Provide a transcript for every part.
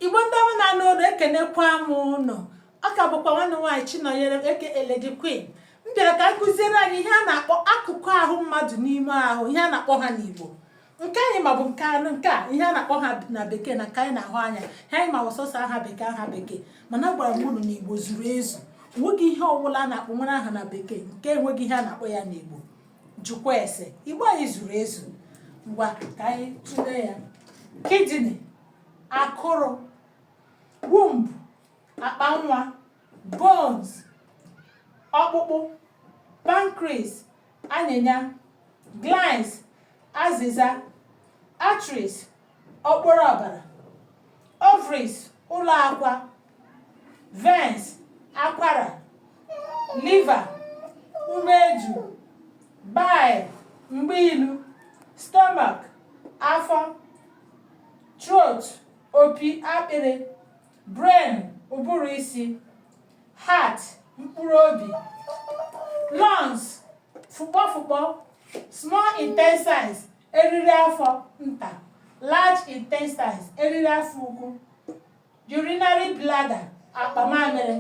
igbo ndị ọma na-anụ olu ekenekwa m ụnụ ọ ka bụkwa nwanne nwaanyị chinọnyerem aka lady queen m bịara ka m kụziere anyị ihe a na-akpọ akụkụ ahụ mmadụ n'ime ahụ ihe a na-akpọ ha n'igbo nke anyị ma bụ nke anụ nke a ihe a na-akpọ ha na bekee na nke anyị na-ahụ anya ihe anyị ma wụ sọsọ aha bekee aha bekee mana agwara m unu na igbo zuru ezu o nweghị ihe ọbụla a na-akpọ nwere aha na bekee nke enweghị ihe a na-akpọ ya n'igbo jụkwa ese igbo anyị zuru ezu ngwa ka anyị tụlee ya kidney akụrụ womb akpa nwa bones ọkpụkpụ pancreas anyịnya glands azịza arteries okporo ọbara ovaries ụlọ akwa veins akwara liver umeju bile mgba ilu stomach afọ throat opi akpịrị brain ụbụrụ isi heart mkpụrụ obi lungs fụkpọfụkpọ small intestines eriri afọ nta large intestines eriri afọ ukwu urinary bladder akpa mamịrị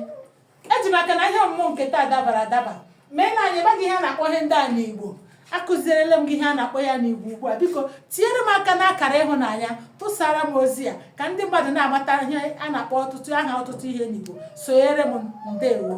eji m aka na ihe ọmụmụ nke taa dabara adaba mee na anyị amaghị ihe a na-akpọ ihe ndị a n'igbo akụzierela m gị ihe a na-akpọ ha n'igbo ugbu a biko tinyere m aka n'akara ịhụnanya busara m ozi a ka ndị mmadụ na-amata ihe a na-akpọ ọtụtụ aha ọtụtụ ihe n'igbo sonyere m ndewo